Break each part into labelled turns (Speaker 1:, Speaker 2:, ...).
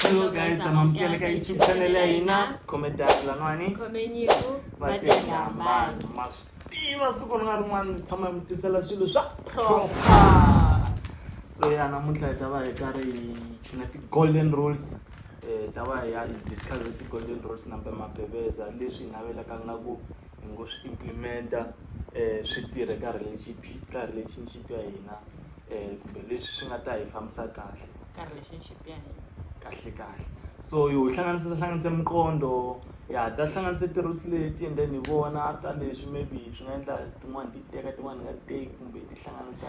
Speaker 1: Hello guys, amamukela ka YouTube channel ya hina Comedy Lanwani. Khomenyiku
Speaker 2: Vatengambana.
Speaker 1: Ma swi tiva siku ri nga rin'wana ni tshama hi mi tisela swilo swa proper. So ya namuntlha hi ta va hi karhi hi chuna ti-golden rules. Eh, hi ta va hi ya hi discuss ti-golden rules nambe mabebeza leswi hi navelaka nga ku hi ngo swi implementa eh, swi tirhe ka relationship ka relationship ya hina eh, kumbe leswi swi nga ta hi fambisa kahle. ka relationship
Speaker 2: ya hina kahle kahle
Speaker 1: so yo hlanganisa hlanganisa miqondo ya ta hlanganisa tirules leti and then hi vona after leswi maybe swi nga endla tin'wani ti teka tin'wani nga teki kumbe ti hlanganisa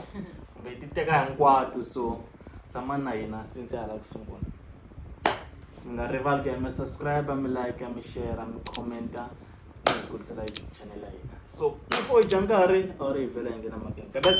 Speaker 1: kumbe ti teka hinkwato so tshamani na hina since ya hala ku sungula mi nga rivali ku ya mi subscribe mi like mi share mi commenta mi hi kurisela youtube channel ya hina so loko u dya nkarhi a wu ri hi vhela hi nghena makeni kabes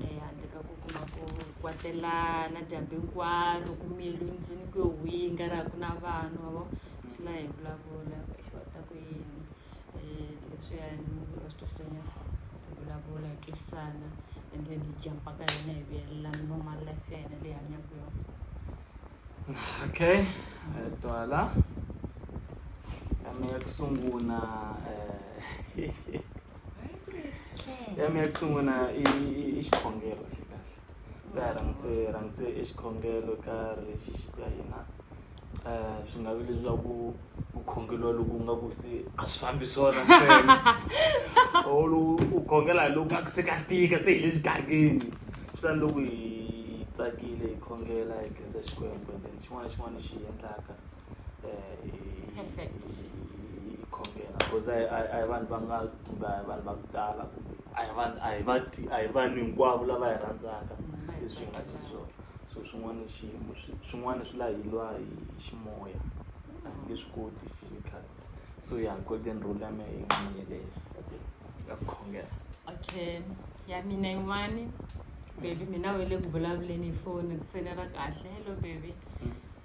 Speaker 2: um handle ka ku kuma ku kwatelana dyambu hinkwaro ku miyeliwe ndlwini ku yo winga ra ha ku na vanhu ma vo swi la hi vulavula exo a ta ku yini um leswiyani va swi twisanya hi vulavula hi twisisana and then hi jampa ka hina hi vuyelelana normal life ya hina leyi hanyaka yona
Speaker 1: okay eh, twala ame ya ku sungula um ya mi ya ku sungula i i xikhongelo kahle kahle ka ha rhangise rhangise i xikhongelo ka ri xixi ka hina um swi nga vi leswaku ku khongeliwa loko u nga ku se a swi fambi swona or u khongela hi loku nga ku se ka tika se hi le xigangeni swi tani loko hi tsakile hi khongela hi khensa Xikwembu and then xin'wana na xin'wana lexi hi endlaka. Perfect.
Speaker 2: yi yi khongela
Speaker 1: because a hi a hi- a hi vanhu va nga kumbe a hi vanhu va ku tala kumbe a hi vanhu a hi va ti a hi vanhu hinkwavo lava hi rhandzaka Mina hi leswi hi nga tsakelaka. xiswona so swin'wana i xiyimo swi- swin'wana swi la hi lwa hi hi ximoya a hi nge swi koti physical so ya golden rule ya mehe yi nga ni yeleyo ya ku ya ku khongela okay
Speaker 2: ya mina yin'wani baby mina we le ku vulavuleni hi foni ku fonela kahle hello baby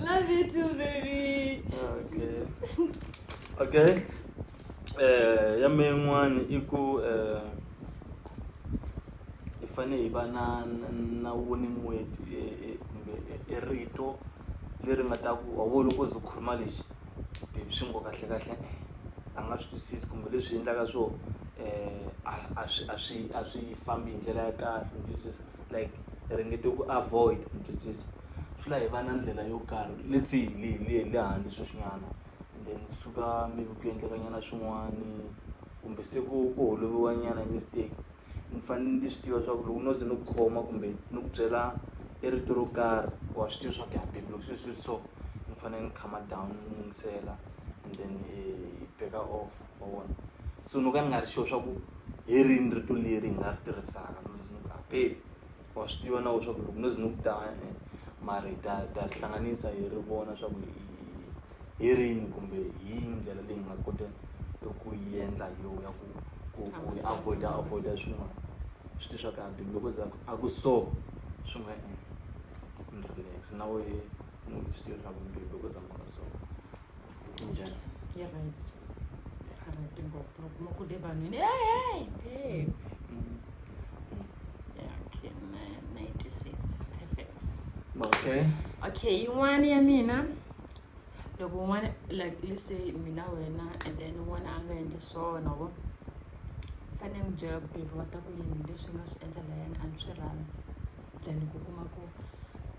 Speaker 1: love you too baby
Speaker 2: okay
Speaker 1: okay eh ya me yin'wana i ku eh hi fane hi va na na woni n'weti kumbe i rito leri nga ta ku wa vo loko ze khuluma lexi baby swi ngo kahle kahle a nga swi twisisi kumbe leswi endlaka swo eh a swi a swi a swi fambi hi ndlela ya kahle u twisisa. like hi ringete ku avoid mi twisisa swi la hi va na ndlela yo karhi let's say hi le hi le hi le handle sweswinyana and then kusuka maybe ku endleka nyana swin'wani kumbe se ku ku holoviwa nyana hi mistake ni fanele ni swi tiva swa ku loko no ze ni ku khoma kumbe ni ku byela i rito ro karhi wa swi tiva swa ku ya baby loko se swi so ni fanele ni calm-a down ni yingisela and then hi back-a off. ma vona so no ka ni nga ri sure swa ku hi rini rito leri hi nga ri tirhisaka no ze ni ku apeli wa swi tiva na wena swa ku loko no ze ni ku ta eh, mara hi ta ta ri hlanganisa hi ri vona swa ku hi rini kumbe hi ndlela leyi hi nga kota ku yi endla hi yona ya ku ku ku hi avoida avoida swin'wana swi ti swa ku abeli loko za a ku so swi nga endla ni relax na wehe ni swi tiva swa ku mbilu loko za ni ku so njani yi
Speaker 2: right a va ti ngopfu loko kuma ku le vanhwini hey hey hey okay na- 96 perfect okay okay yin'wana ya mina loko un'wana like let's say mina wena and then un'wana a nga endli swona wo fanele n'wi byela ku baby wa ta ku yini leswi nga swi endla layani a ni swi rhandzi then ku kuma ku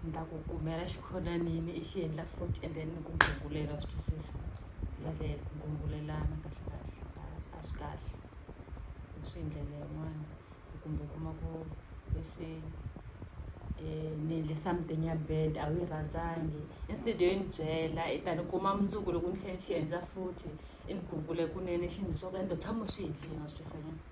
Speaker 2: ni ta ku kumela xikhonanini i xi endla futhi and then ni ku gungulela swi twisisa hi ndlela leyi ku gungulelana kahle kahle a a swi kahle hi swi hi ndlela yin'wani ku kumbe u kuma ku let's say ni endle something ya bad a wu yi rhandzangi instead yo yi ni byela i ta ni kuma mundzuku loko ni tlhe ni xi endla futhi i ni gungule kunene xi ni byela ku ende tshama u swi endlile wa swi twisisa ke ni.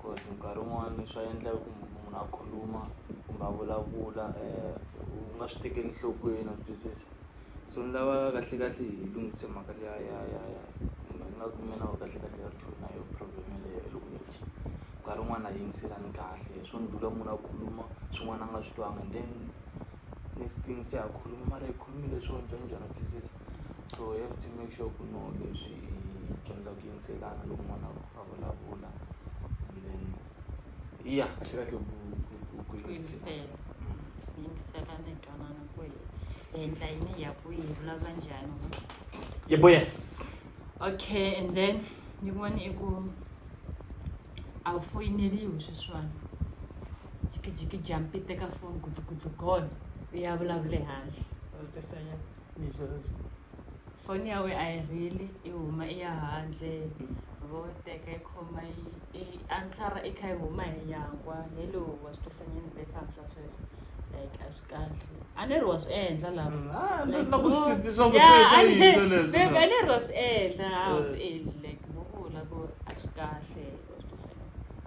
Speaker 1: coz nkarhi wun'wani swa endleka ku munhu a khuluma kumbe a vulavula u nga swi tekeli enhlokweni wa twisisa so ni lava kahlekahle hi lunghise mhaka liya ya ya ya kumbe ni nga ku mina wehe kahlekahle a ri true na yoho problem yeleyo hi loko ni dyi nkarhi wun'wani a hi yingiselani kahle hi swo ni dlula munhu a khuluma swin'wana a nga swi twanga and then next thing se a khuluma mara i khulumile swo njhaninjhani wa twisisa so you have to make sure ku no leswi hi dyondza ku yingiselana loko n'wana a . vulavula ya swi kahle ku ku ku ku yingisela
Speaker 2: ku yingisela ni twanana ku hi endla yini hi ya kwihi hi vulavula njhani wa vona? yebo
Speaker 1: yes okay
Speaker 2: and then yin'wana i ku a wu foyineriwi sweswiwani jikijiki jampi teka foni gudlugudlu gone u ya vulavula ehandle u tisa ya leswi foni ya wena a yi heli i huma i ya handle vo teka yi khoma yi i answer i kha yi huma hi nyangwa hello wa swi twisa nyana vhele i fambisa sweswo like a swi kahle a ni ri wa swi endla lava Ah, Like, na ku swi no. twisisa swa
Speaker 1: ku Yeah, se swa a ni- yini
Speaker 2: leswi, babe, no. a ni ri wa swi endla a wu Eh. swi endli like vo vula ku a swi kahle wa swi twisa nyana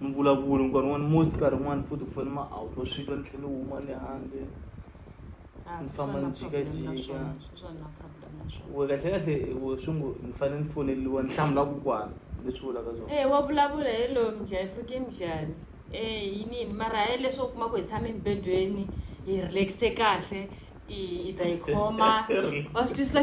Speaker 1: mvulavulo nkarhi wun'wana musi nkarhi wun'wana futhi ku fana ma a wu twa swi twa ni tlhelo huma le handle ah, ni famba ni jikajika we kahle kahle we swi ngo ni fanele ni foneliwa ni hlamula ku kwana leswi vulaka swona e wa vulavula hi loyo
Speaker 2: mdlaya fuke mdlani e eh, yinini mara hi leswo u kuma ku hi tshame emibedweni hi relaxe kahle i ta yi khoma wa swi twisisa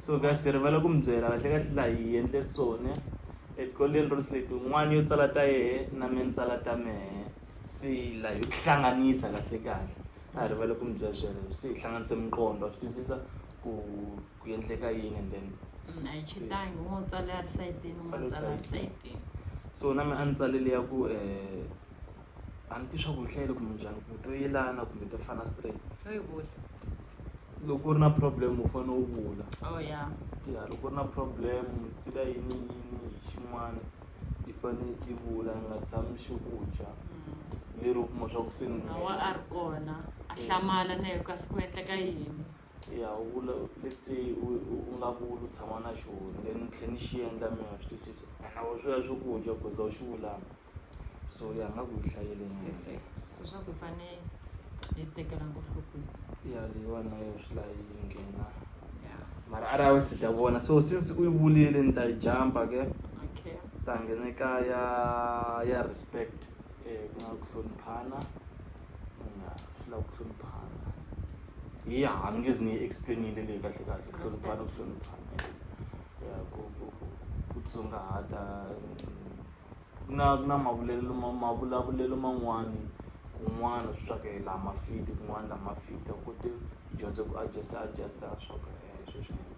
Speaker 1: so ka se rivala ku mi byela kahle kahle laha hi endle sone etikolweni rules leti un'wana yo tsala ta yehe na me ni tsala ta mehe se la yo tihlanganisa kahle kahle a hi rivala ku mi byela sweleswo se hi hlanganise miqondo swi twisisa ku ku endleka yini and then mm, a yi chitangi
Speaker 2: un'we u tsale a ri sayitini un'we a
Speaker 1: tsala a ri sayitini so na me a ni tsalele ya ku um a ni tivi swa
Speaker 2: ku ni
Speaker 1: hlayile kumbe njhani kumbe to yelana
Speaker 2: kumbe
Speaker 1: to fana straight loko u ri na problem u fane u vula oh
Speaker 2: ya ya loko u ri na
Speaker 1: problem se ka yini yini hi xin'wani i fane i vula i nga tshami xi ku dya mm. lero u kuma swa ku se ni wa a ri kona
Speaker 2: a hlamala na yo kasi ku endleka yini ya u vula
Speaker 1: let's say u nga vuli u tshama na xona then ni tlhe ni xi endla mina swi twisisa and a wu swi ya swi ku dya goza u xi vulanga so ya nga ku yi hlayele nyeleswaku
Speaker 2: hi fane hi tekela ngohlokweni ya leyiwani
Speaker 1: na yo swi la yi nghena mara
Speaker 2: a ri awe si
Speaker 1: ta vona so since u yi vulile ni ta yi jampa ke okay ta
Speaker 2: nghene ka
Speaker 1: ya ya respect um ku nga ku hloniphana ya swi lava ku hloniphana hi ha ni nge zi ni yi explainile leyi kahle kahle ku hloniphana ku hloniphana ya ku ku ku ku tsongahata ku na ku na mavulavulelo ma mavulavulelo man'wani kun'wana swa ku la ma fit kun'wana la ma fit u kote u dyondze ku adjust adjust swa ku sweswi ni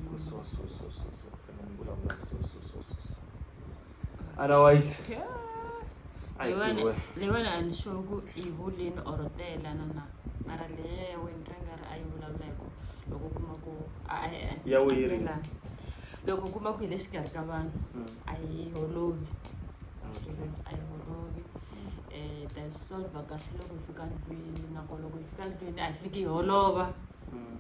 Speaker 1: ku so so so so so ku fanele ni vulavula so so so so so otherwise ayi tiwe
Speaker 2: leyiwani a ni sure ku i hulini or teyelana na mara leyeweni ka nga ri a yi vulavula hi ku loko u kuma ku a ya
Speaker 1: weyiri loko u
Speaker 2: kuma ku hi le xikarhi ka vanhu a yi holovi a yi holovi um hi ta yi solver kahle loko hi fika ndlwini nakona loko hi fika ndlwini a hi fiki hi holova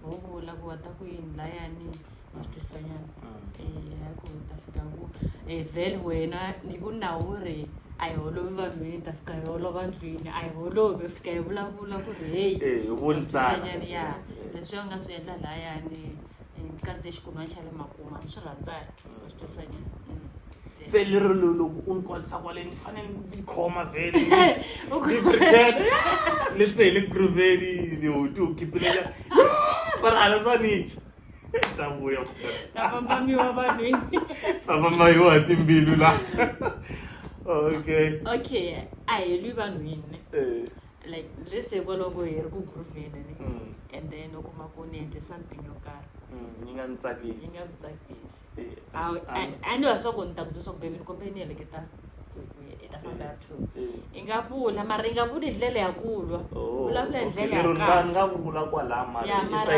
Speaker 2: ho vula ku wa ta ku yini layani ma swi twisanyana um ya ku hi ta fika ku um vhele wena ni ku na wu ri a hi holovi vanhwini hi ta fika hi holova ndlwini a hi holovi hi fika hi vulavula ku ri heyi ya
Speaker 1: leswi
Speaker 2: a nga swi endla layani ndzi kandziye xikunwa xa le makuma ni swi rhandza wa swi twisisa njhe se
Speaker 1: lero lo- loko u ni kolisa kwale ni fanele ndzi khoma vhele ni pretend ni se hi le grooveni ni ho ti wu khipilela mara a ni swa nicha ta vuya vambamiwa
Speaker 2: vanhwini famba
Speaker 1: mayiwa hi timbilu la okay okay
Speaker 2: a hi lwi vanhwini Eh. like let's say kwalaho ku hi ri ku groove-eni ne and then u kuma ku ni endle something yo karhi yi nga ni tsakisi
Speaker 1: yi nga ni
Speaker 2: tsakisi a ni wa swa ku ni ta ku byela swaku baby ni kombele ni heleketa hi ta famba ya two i nga vula mara i nga vuli hi ndlela ya ku lwa vulavula hi ndlela ya kahle nga vula kwalaya
Speaker 1: mara ya mara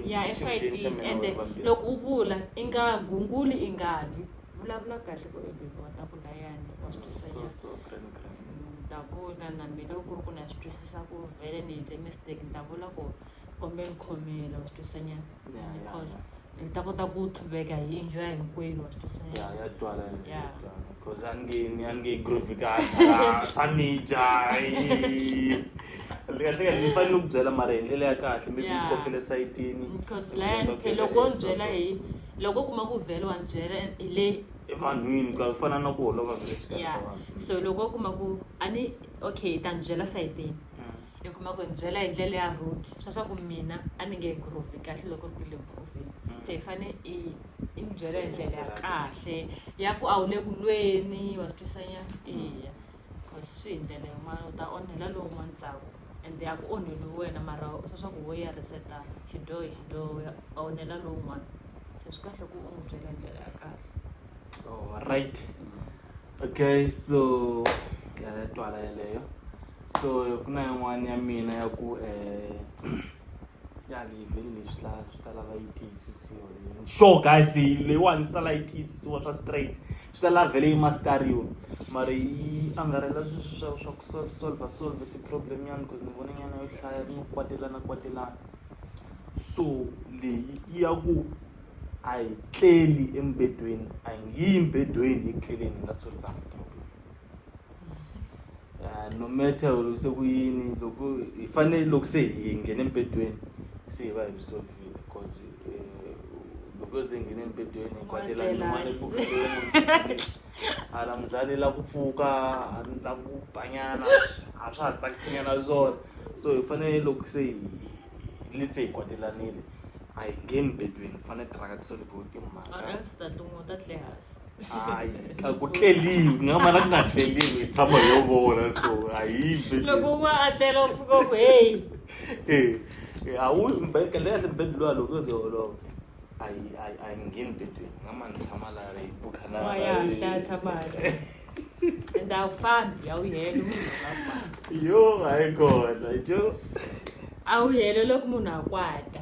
Speaker 1: ya esayitini
Speaker 2: ende loko u vula i nga gunguli i nga lwi vulavula kahle ku i bebe wa takuda yani wa swi twisisa takuda na mina loko ku ri ku na swi twisisa ku vhele ni endle mistake ni ta vula ku kombe ni khomela wa swi twisisa nyana because ni ta kota ku tlhuveka hi enjoya hinkwenu wa swi twisisa nyana ya twala ya
Speaker 1: because a ni nge ni a ni nge groove ka swa ni dya kahlekahle ni fanele ni ku byela mara hi ndlela ya kahle mi ku kokele sayitini because laya ni
Speaker 2: phele loko ni byela hi loko u kuma ku vhele wa ni byela and hi le evanhwini ku
Speaker 1: fana na ku holova vhele exikarhi ya ka vanhu so loko u kuma ku
Speaker 2: a ni okay ta ni byela sayitini i kuma ku ni byela hi ndlela ya road swa swa ku mina a ni nge groove kahle loko ri ku le groovini se hi fane i i ni byela hi ndlela ya kahle ya ku a wu le ku lweni wa swi twisanyana eya coz swi hi ndlela yin'wani u ta onhela lowun'wani ntsako ende a ku onheliwi wena mara swa swa ku wo ya reset-a xidyoho hi xidyoho u ya u onhela lowun'wani se swi kahle ku u n'wi byela hi ndlela ya kahle. Alright
Speaker 1: okay so ya twala yeleyo so ku na yin'wani ya mina ya ku ya leave-ini . ta lava yi tiyisisiwa leyi sure guys leyi leyiwani swi ta lava yi tiyisisiwa swa straight swi ta lava vhele yi mastariwa mara yi angarhela sweswi swa swa ku solve solve solve ti-problem nyana because ni vona nyana yo hlaya no kwatelana kwatelana so leyi i ya ku a hi tleli embedweni a hi nge yi mbedweni eku tleleni hi nga solvanga problem. ah, no matter se ku yini loko hi fanele loko se hi nghene embedweni se hi va hi risolvile because eh, loko se hi nghene embedweni hi kwatela N'wana non'wana hi pfuka hala muzali la ku pfuka la ku banyana a swa ha tsakisinyana swona so hi fanele loko se hi le se hi kwatelanile a hi ngheni bedweni hi fanele tiraka tisolivhiwe timhaka or else ta tin'we ta tlehasi hayi a ku tleliwi ku nga mala ku nga tleliwi hi tshama hi yo vona so a hi yimbe loko un'wana a
Speaker 2: tlela u pfuka ku heyi
Speaker 1: e a wu mbele kahle kahle mbele luwa loko yo ze olova a yi a yi a yi ngheni bedweni nga ma ni tshama laha yi bukhanaahlaya
Speaker 2: tshama and a
Speaker 1: wu fambi
Speaker 2: a wu
Speaker 1: heli
Speaker 2: yo
Speaker 1: hayi
Speaker 2: kona jo a wu heli loko munhu a kwata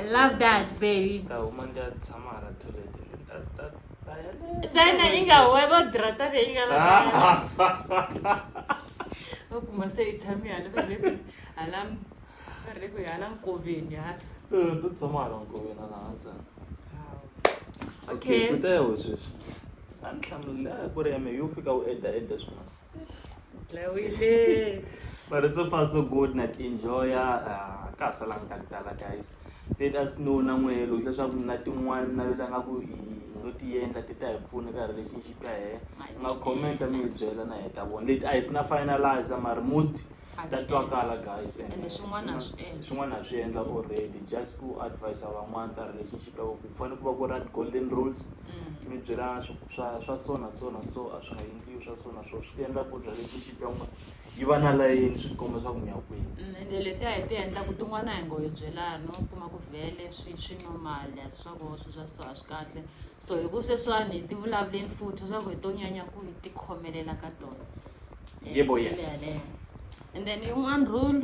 Speaker 2: I love that baby tahuma ndi a tshama
Speaker 1: hala toilet tsena
Speaker 2: yi nga webo drata leyi nga la va kuma se yi tshami hala va le ku hala va le ku hala nkoveni hala to tshama hala
Speaker 1: nkoveni hala hansi okay
Speaker 2: kutayaho sweswi
Speaker 1: a ni hlamulile a ku ri ya me yo fika u eda eda swin'wana Lawile.
Speaker 2: but so far so
Speaker 1: good na ti enjoya ah, ka ha salanga ka tala guys let us know na n'we loko leswaku na tin'wana mi navela nga ku hi ngo ti endla ti ta hi pfuna ka relationship ya hehe mi nga comment mi hi byela na hi ta vona leti a hi si na finalize mara most ta twakala guys and swin'wana ha swi
Speaker 2: endla swin'wana ha swi endla
Speaker 1: already just ku advise van'wana ka relationship ya ku fanele ku va ku ri golden rules mm. mi byela swa swa so na so na so a swi nga endliwi swa so na so swi endla ku relationship ya n'wina yi va na layeni swi tikomba swa ku mi ya kwini mm, ende letiya hi ti
Speaker 2: endlaku tin'wana hi ngo hi byelani u kuma ku vhele swi swi normal swa ku swi swa so a swi kahle so hi ku sweswiwani hi ti vulavuleni futhi swa ku hi to nyanya ku hi tikhomelela ka tona yebo
Speaker 1: yes Ndebe. and
Speaker 2: then yin'wana rule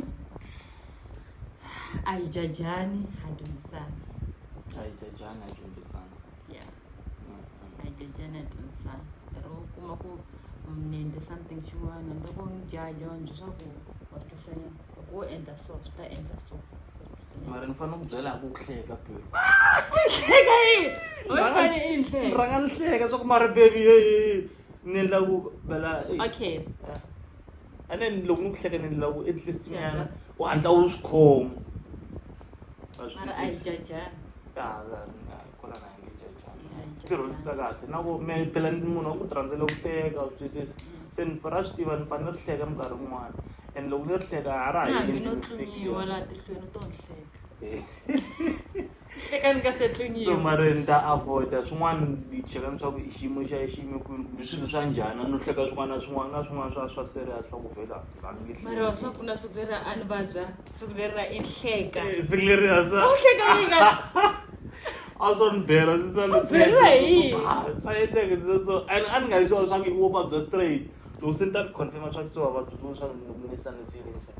Speaker 2: a hi jajani ha dyondzisana a hi
Speaker 1: jajani a dyondzisana yeah
Speaker 2: a hi jajani a dyondzisana lero u kuma ku ni endle something xin'wana ni loko ni jaja vanhu leswaku wa swi twisisa nyana loko wo endla so swi ta endla so Wa swi twisisa nyana. mara ni
Speaker 1: fanele ku byela hi ku ku hleka bulu Hleka
Speaker 2: yini? Wena u fanele i ni hleka. rhanga ni hleka
Speaker 1: swa
Speaker 2: ku mara
Speaker 1: bebi heyi ni la ku bela okay a ne ni loko ni ku hleka ni la ku at least nyana u hatla u swi khoma
Speaker 2: mara a yi jajani
Speaker 1: kona na nge jajani tirhondisa kahle na ku me phela ni munhu wa ku tirhandzela ku hleka u twisisa se ni ra swi tiva ni fane ni ri hleka minkarhi yin'wana and loko ni ri hleka a ra ha yini no tlumiwa laha tihlweni u
Speaker 2: to ni hleka
Speaker 1: eka ni nga se tluniwa so
Speaker 2: mara ni ta avoida
Speaker 1: swin'wana ni cheka ni swa ku i xiyimo xa xi yime kwini kumbe swilo swa njhani no hleka swin'wana na swin'wana na swin'wana swa swa serious swa ku vhela a ni nge mara
Speaker 2: swa pfuna siku leri a ni vabya siku
Speaker 1: leri ra i hleka Eh, siku leri a sa u hleka
Speaker 2: yini
Speaker 1: ka a swa ni bela ndzi sa leswi beriwa hi
Speaker 2: yini? Ah, swa endleka ndzi
Speaker 1: sa- so and a ni nga yi swa swa ku i wo vabya straight loko se ni ta ni confirm swa ku se wa vabya swa ku ni ni sanisiwile njhani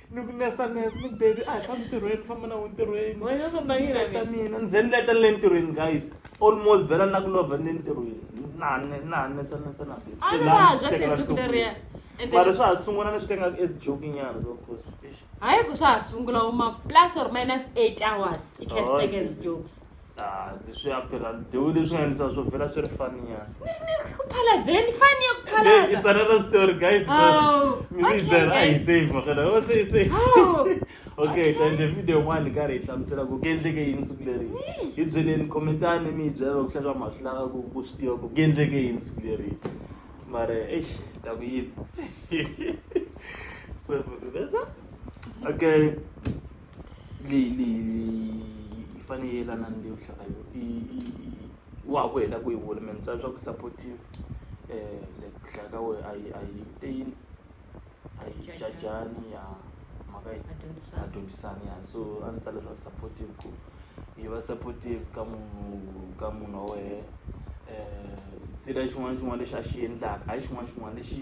Speaker 1: ni ku nesa nesa ni baby a hi fambi ntirhweni famba na ntirhweni ta
Speaker 2: mina ni ze ni leta
Speaker 1: ni le ntirhweni guys almost vhela na ku lova ni le ntirhweni na na nesa nesa na baby se la
Speaker 2: mara swa ha
Speaker 1: sungula leswi ka ingaku as joke nyana so course hayi ku swa ha
Speaker 2: sungula uma plus or minus eight hours i cash oh, package jokes Ah, leswi ya
Speaker 1: phela dewu leswi nga ndisa swo vhela swi ri fani ya Phaladzeni
Speaker 2: fani ya ku Hey, it's phalaza. another story guys
Speaker 1: Oh, mi okay, byela a hi guys. save makana o se hi save Oh, okay ta endle video yin'wana hi karhi hi hlamusela ku ku endleke yini siku leri hi byeleni commentani mi hi byela loko hlaka ma swi lava ku ku swi tiva ku ku endleke yini siku leri mara eish ta ku yini so vesa okay leyi leyi yi fane yi yelana ni leyo hlaya i i i wa ha ku heta ku yi vula me ni tsala swa ku supportive like ku hlaya ka wehe a yi a yi te yini a yi jajani ya mhaka yi a dyondzisani ya so a ni tsala leswaku supportive ku yi va supportive ka munhu ka munhu wa wehe xin'wana na xin'wana lexi a xi endlaka hayi xin'wana na xin'wana lexi.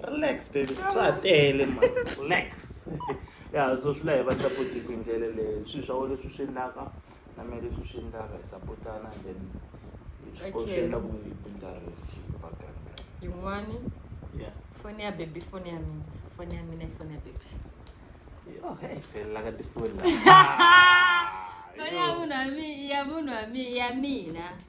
Speaker 1: relax baby swa ha tele ma relax ya so swi la hi va support hi ndlela leyi swilo swa wena leswi swi endlaka na mina leswi swi endlaka hi sapotana and then swi endla ku yi bindzarini
Speaker 2: xi va kahle yin'wani ya foni
Speaker 1: ya baby
Speaker 2: foni ya mina foni ya mina foni ya baby
Speaker 1: Oh, hey, fella ka tifoni la.
Speaker 2: Foni ya munhu wa mina, ya munhu wa mina, ya mina.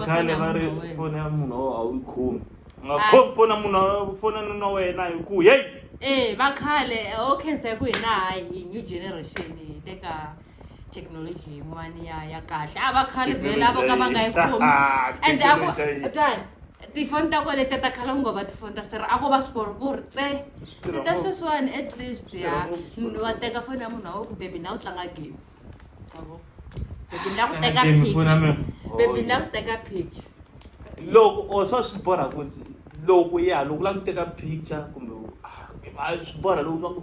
Speaker 2: vakhale va ri foni ya munhu o a wu yi khomi u nga
Speaker 1: Ah. khomi foni ya munhu foni ya nuna wena hi ku heyi Eh, vakhale o
Speaker 2: khensa hi ku hina hayi hi new generation hi teka thekinoloji leyiwani ya ya kahle a va khale vhela vo ka va nga yi khomi and a ku twan tifoni ta kona letiya ta khala ku ngo va tifoni ta sera a ko va swikorikori tse se ta sweswiwani at least ya wa teka foni ya munhu wa we ku bebi na u tlanga game avo bebi na ku teka pitch bebi na ku teka pitch loko
Speaker 1: o swa swi borha ku loko ya loko u lava ku teka picture kumbe swi borha loko swa ku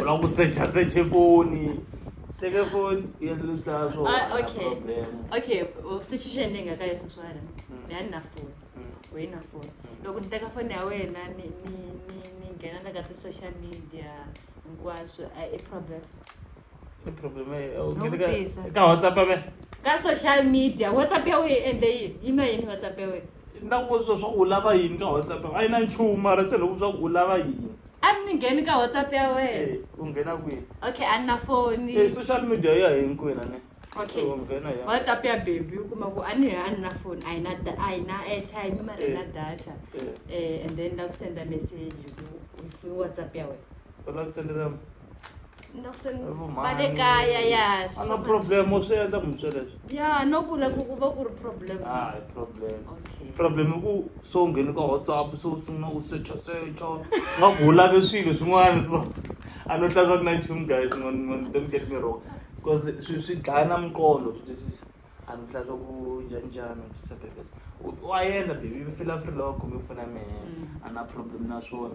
Speaker 1: u lava ku secha seche foni teke foni yendlisa swookayokayi
Speaker 2: sweswiwena ni ya ni na foni u yi na foni loko ni teka foni ya wena ni nghena na ka ti-social media hinkwaswo a i problem i problem
Speaker 1: ka whatsapp ka social
Speaker 2: media whatsapp ya wena yi endle yini yi na yini whatsapp ya wena na ku vutisa swa ku
Speaker 1: u lava yini ka whatsapp a yi na nchumu mara se loko swa ku u lava yini a ni ngheni ka
Speaker 2: whatsapp ya wena u nghena kwihi
Speaker 1: okay a ni na foni
Speaker 2: e social media ya
Speaker 1: hinkwena ne okay u nghena
Speaker 2: ya whatsapp ya baby u kuma ku a ni a ni na foni a yi na a yi na airtime mara yi na data um and then la ku senda message ku u funi whatsapp ya wena u lava ku sendela
Speaker 1: ni lava ku se ni Vo mhani. va
Speaker 2: le kaya ya swi A swo na fana- problem u
Speaker 1: swi endla munhu swilo leswi. ya no ku la
Speaker 2: ku ku va ku ri problem
Speaker 1: A hi problem.
Speaker 2: Okay. Problem i ku
Speaker 1: se u nghene ka WhatsApp se u sungula u secha secha nga ku u lave swilo swin'wana so a no hlaza ku na nchumu guys don't get me wrong coz swi swi dlaya na miqondo swi twisisa a ni hlaza ku njhani njhani u twisisa baby u wa yendla baby u fila free loko u khome foni ya mehe a na problem na swona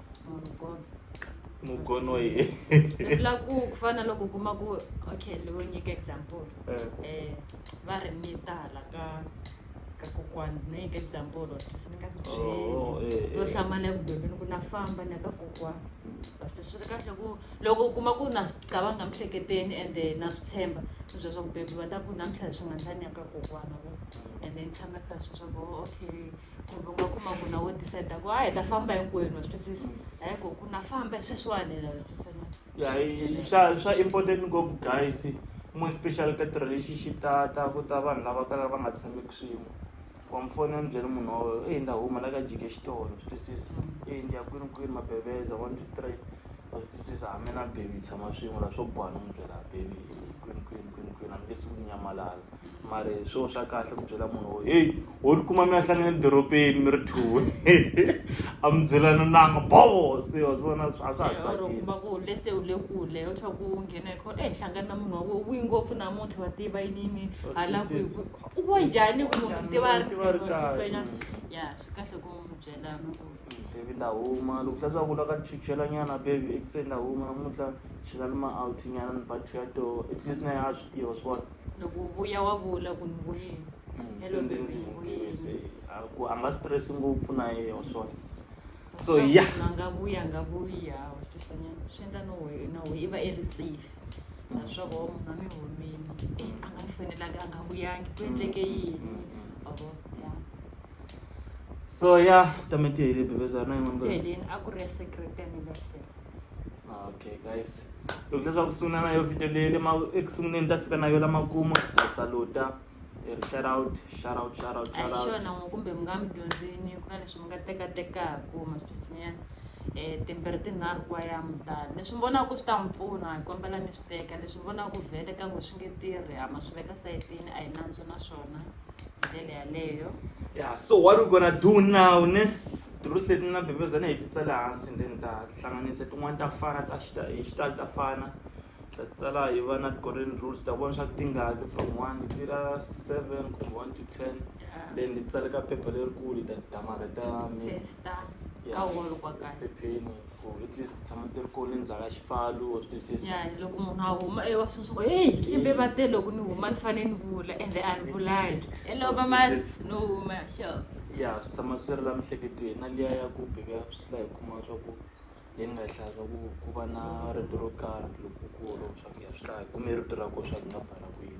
Speaker 1: mugono ye vula ku
Speaker 2: ku fana loko u kuma ku okay ni vo nyika example Eh. eh va ri ni tala ka ka kokwani no nyika example leswi ni nga swi Oh, byeli eh,
Speaker 1: yo eh. hlamala
Speaker 2: eku bebeni ku na famba ni ya ka kokwani kasi swi ri kahle ku loko u kuma ku na swi cabanga miehleketeni ende na swi tshemba ni bya swa ku bebi va ta ku namuntlha leswi nga ndla ni ya ka kokwani vo ende ni tshama kha swi swa ku oh, okay kumbe u nga kuma ku na wo decide ku hayi hi ta famba hinkwenu wa swi twisisa hayi ko ku na famba sweswiwani wa swi twisisa na
Speaker 1: ya hi- swa swa important ngopfu guys mo special ka ti-relationship ta ta ku ta vanhu lava kalaka va nga tshameki swin'we wa mufoni a ni byele munhu wa wena eyi ni ta huma la ka jike xitolo swi twisisa eyi ni ya kwini kwini mabeveza one two three wa swi twisisa hambi na baby hi tshama swin'we la swo boha ni n'wi byela baby kwini kwini kwini kwini a ni nge suki ni nyamalala mara hi swona swa kahle ku byela munhu wo heyi ho ni kuma mi ya hlangana edorobeni mi ri two a mi byelana nanga bo se wa swi vona a swa ha tsakisi ku le se u le
Speaker 2: kule u tlhela ku nghena hi khona eyi hlangana na munhu wa wena wi ngopfu namuntlha wa tiva yini yini hala ku u wa njhani ku munhu mi tiva a ri tifanyana ya swi kahle ku mi byela mi ku baby ni ta
Speaker 1: huma loko swa swa ku la ka chuchela nyana baby ekuseni ni ta huma namuntlha chela ni ma out nyana ni ba two ya toho at least na yena a swi tiva wa swi vona. loko u vuya wa
Speaker 2: vula ku ni vuyile mm, hello baby ni
Speaker 1: vuyile a nga stress ngopfu na yeye wa swona so ya a nga vuya a nga
Speaker 2: vuyi ha wa swi twisanyana swi endla no we no we i va i ri safe mm. naswoko wa munhu a mi humini e a nga ni fanelanga a nga vuyangi ku endleke mm, yini avo ya
Speaker 1: so ya tamete hi le bebezana yin'wana ku heleni a ku ri ya
Speaker 2: secret ya ni lesela
Speaker 1: okay guys loko leswaku ku sungula na yo video leyi le ma eku sunguleni ta fika na yo lamakumu a saluta hi ri shout out shout out shout out shout
Speaker 2: out xona n'we kumbe mi nga mi dyondzini ku na leswi mi nga tekatekaku masweswinyana um timbirhi tinharhu ku va ya mutani leswi mi vonaku swi ta mi pfuna hi kombela mi swi teka leswi mi vonaku vhele ka n'we swi nge tirhi ha ma swi veka sayitini a hi nandzu na swona ndlela yaleyo ya so what
Speaker 1: we gonna do now ne tirusi leti na bebezana hi titsale hansi ndeni ta hlanganisa tin'wana ta fana ta xita hi xitalo ta fana ta tsala hi va na golden rules ta vona swa ku tingaki from one ti ra seven kumbe one to ten then ni tsaleka phepha lerikulu ta damareta mi
Speaker 2: phepheni ku at
Speaker 1: least ti tshama ti ri kona endzhaku ka xipfalo or ti se yani loko munhu a huma
Speaker 2: ewa swi swa ku heyi kambe va te loko ni huma ni fanele ni vula ende a ni vulangi ene va masi no huma xo ya swi tshama
Speaker 1: swi ri la miehleketweni na liya ya ku bika swi ta hi kuma swa ku hi nga hlaya swa ku ku va na rito ro karhi lokukulu swa ku ya swi ta hi kume rito ra kona swa ku hi nga bala kwini.